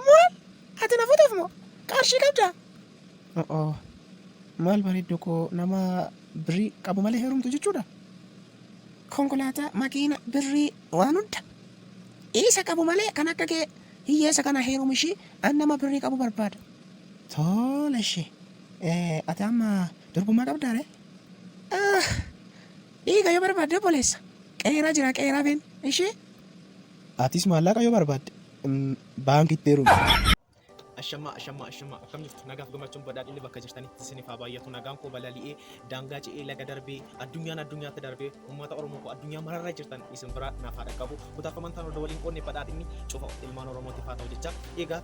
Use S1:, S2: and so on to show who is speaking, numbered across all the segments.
S1: Maal? Ati na futuuf moo? Qarshii qabdaa? O'oo.
S2: Maal bareedduu koo nama birrii qabu malee heerumtu jechuudha?
S1: Konkolaataa, makiina, birrii waan hunda isa qabu malee kan akka kee hiyyeessa kana heerumu ishii an nama birrii qabu barbaada. Tole
S2: ishee. Ati amma durbummaa qabdaa ree?
S1: Dhiiga yoo barbaadde obboleessa. Qeeraa jira qeeraa been ishee. Atis
S2: maallaqa yoo barbaadde baankitti heerumi. Ashamaa
S3: ashamaa ashamaa akkam jirtu nagaaf gammachuun badhaadhinni bakka jirtanitti isiniif haa baay'atu nagaan koo balali'ee daangaa ce'ee laga darbee addunyaan addunyaatti darbee uummata oromoo koo addunyaa mararra jirtan isin biraa naaf haa dhaqqabu kutaaf amantaan hunda waliin qoodne badhaadhinni cufa ilmaan oromootiif haa ta'u jecha egaa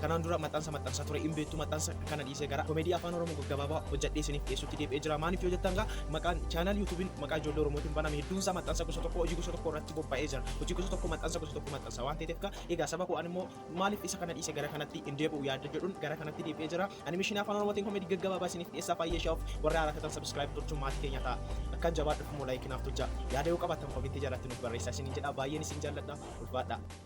S3: Kanaan dura maxxansa maxxansaa ture hin beektu maxxansa kana dhiisee gara komedii afaan oromoo gaggabaabaa hojjedhee isiniif dhiyeessutti deebi'ee jira maaliif yoo jettan gaa maqaan chaanaal yuutuubiin maqaa ijoollee oromootiin baname hedduun isaa maxxansa gosa tokko hojii gosa tokko irratti bobba'ee jira hojii gosa tokko maxxansa gosa tokko maxxansa waan ta'eef gaa egaa saba koo ani immoo maaliif isa kana dhiisee gara kanatti hin deebi'u yaadda jedhuun gara kanatti deebi'ee jira animeeshinii afaan oromootiin komedii gaggabaabaa isiniif dhiyeessaa baay'ee shaa'uuf warra haaraa tatan sabiskiraayib gochuun maatii keenya ta'a akkan jabaadhu immoo laayikinaaf tolcha yaada yoo qabaattan komentii jalatti nuuf barreessaa isiniin jedha baay'een isin jaalladha ulfaadha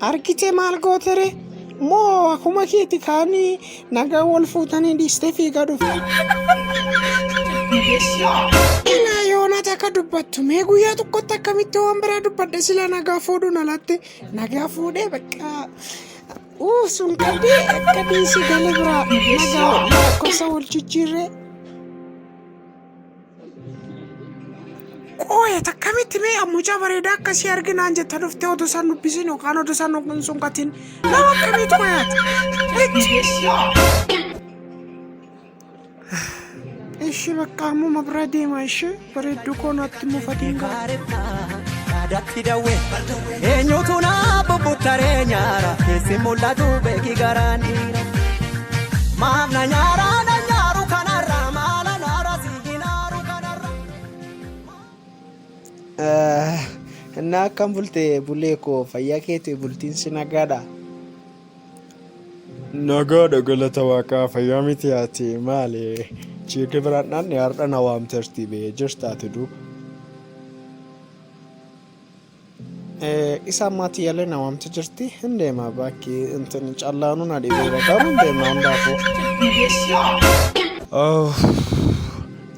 S1: Argite maal gootere? Moo akuma keeti kaani nagaa wal fuutanii dhiistee fiigaa dhufte. Ilaa yoonaa takka dubbattu mee guyyaa tokkotti akkamitti waan biraa dubbadhe sila nagaa fuudhuun alatti nagaa fuudhee bakka uu sun qabdee akka dhiisii gala biraa nagaa lakkoofsa wal jijjiirree. Qooyee takkamitti mee mucaa bareedaa akkasii arginaan jetta dhuftee oduu isaan dubbisiin yookaan oduu isaan hin sunqatiin nama akkamiitu qoyaati. Ishee bakka ammuma bira deema ishee bareedduu koo naatti mufatiin gaara.
S4: Eenyutu na bubbuttaree nyaara keessi mul'atu beeki garaan dhiira. Maaf na nyaara na nyaaru kanarra maala naara si hinaaru kanarra.
S2: Innaa akkam bulte bulee koo fayyaa keetii bultiin si nagaadha. Nagaadha galata waaqaa fayyaa miti ati maali chiikii biraan dhaanne har'a na waamteerti bee jirtaati duuba. Isa ammaati yalee na waamti jirti hin deema bakki intin callaanuu na dhibeera garuu hin deema hin daakuu.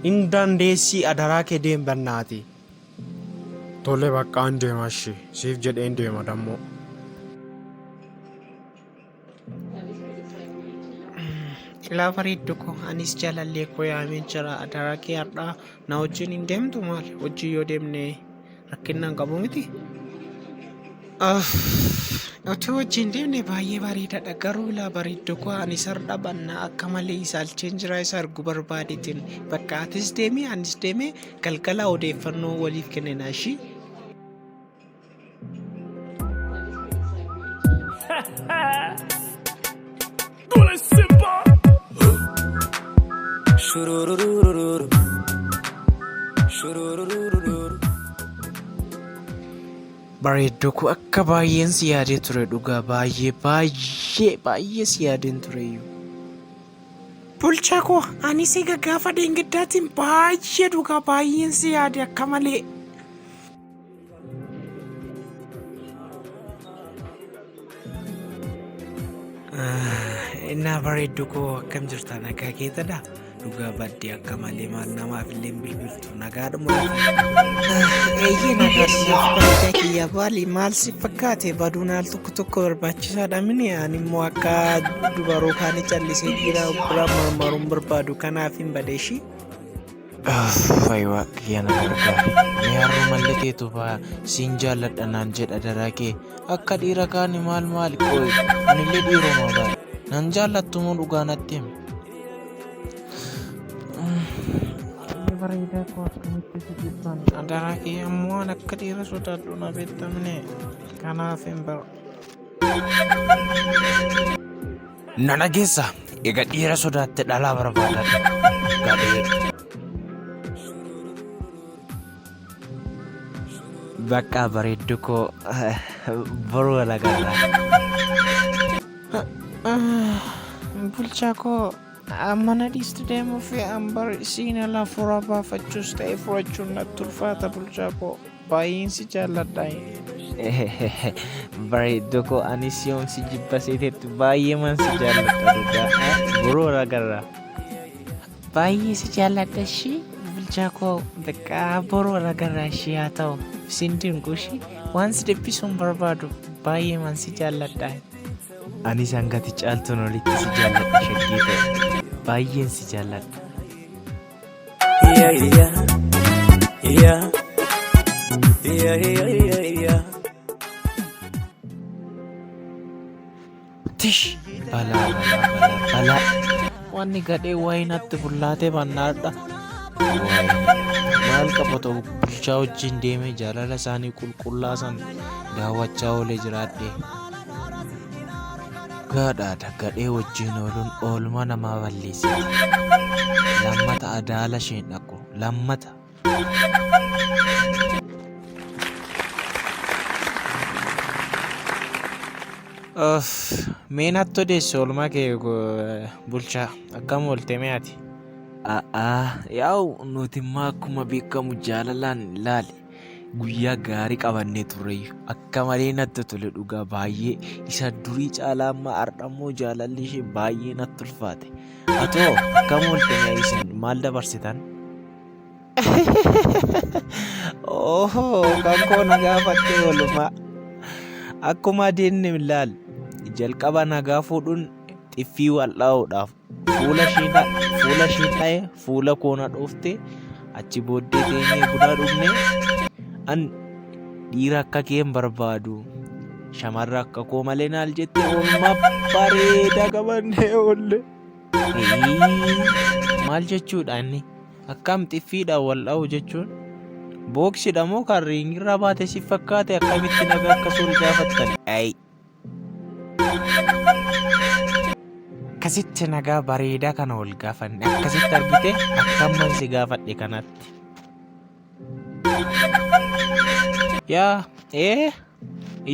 S2: Hin dandeessii adaraa kee deem bannaati. Tole baqqaa hin deema ishii siif jedhee hin deema dammoo.
S1: Ilaa bareeddu koo anis jaalallee koo yaamee jira adaraa kee har'aa na wajjin hin deemtu maal hojii yoo deemne rakkinnaan qabu miti. Aff, Otoo wajjin deemne baay'ee bareedaadha garuu ilaa bareeddu koo anis har'a bannaa akka malee isaalcheen jira isa argu barbaadeetiin bakka atis deemee anis deemee galgala odeeffannoo waliif kennina ishii. Bareedduu koo akka baay'een si yaadee ture dhugaa baay'ee baay'ee baay'ee si yaadeen ture iyyuu. Bulchaa koo ani si gaggaafa deengaddaatiin baay'ee dhugaa baay'een si yaade akka malee. Innaa bareeddu koo akkam jirta nagaa keetadha dhugaa baddee akka malee maal namaaf illee bilbiltu nagaadhuma. Eeyyee nagaadhuma bareedaa kiyya baali maal si fakkaate baduun al tokko tokko barbaachisaadha mini ani immoo akka dubaroo kaanii callisee dhiira bira marmaruun barbaadu kanaaf hin badeeshii. Fayi
S5: waaqa kiyya na gargaari. Mee harroo malli teetu faa siin jaalladha naan jedha daraa kee. Akka dhiira kaani maal maali qoy. Anillee dhiiruma baay'ee. Nan jaallattu moo dhugaa natti himi.
S1: Bareedaa koo akkamitti si dhiibbaan. Daraa kee ammoo waan akka dhiira sodaadhu na beektamne. Kanaaf hin bara.
S5: Na dhageessa. Egaa dhiira sodaatte dhalaa barbaada. Gadhee. Bakka bareeddu koo boru walagarra. Bulchaa koo mana dhiisti deemuu fi ambar siinala furaa baafachuus ta'e furachuun natti ulfaata bulchaa koo. Baay'een si jaalladha. Bareedduu koo anis yoon si jibba seetetti baay'eeman si jaalladha dhugaa. Boroo ragarraa. Baay'ee si jaalladha ishii bulchaa koo beqqaa boroo ragarraa ishii haa ta'u sin dinqu ishii waan si dhiphisuun barbaadu baay'eeman si jaalladha. Anis hangati caaltuun olitti si jaalladha shaggee ta'e. Baay'een si jaalladha. Tish! Balaa, balaa, balaa. Wanni gadhee waa'ee natti bullaatee bannaadha. Maal qaba ta'u bulchaa wajjin deemee jaalala isaanii qulqullaasan daawwachaa oolee jiraadhe. Dhugaadhaadha gadhee wajjiin ooluun oolmaa namaa balleessa. Lammata adaala isheen dhaqu. Lammata. Of, mee natti odeessi oolmaa kee go- bulchaa akkam oolte mee ati? A'aa, yaa'u nuti immoo akkuma beekamu jaalalaan ilaali. guyyaa gaarii qabannee turreeyyu akka malee natti tole dhugaa baay'ee isa durii caalaa amma ardhammoo jaalalli ishee baay'ee natti ulfaate atoo akka mooltanii isin maal dabarsitan Oho, kan koo na gaafatte oolmaa. Akkuma adeemne ilaal, jalqaba nagaa fuudhuun xiffii wal'aa'uudhaaf Fuula ishii na- fuula ishii dha'e fuula koo na dhoofte achi booddee teenyee buna dhugne an dhiira akka kee hin barbaadu shamarra akka koo malee naal jette oolmaa bareedaa qabannee oolle. Eeyyii, Maal jechuudha inni akkam xiffiidha wal dha'u jechuun booksidha moo kan riingirraa baate si fakkaate akkamitti nagaa akka sool gaafattan. Ayi. Akkasitti nagaa bareedaa kana ol gaafanne akkasitti argite akkamman si gaafadhe kanatti. Yaa ee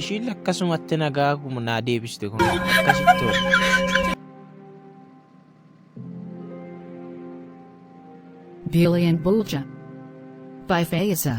S5: ishiin akkasumatti nagaa naa deebiste kun akkasitti ol.
S6: Billion Bulja. By Faiza.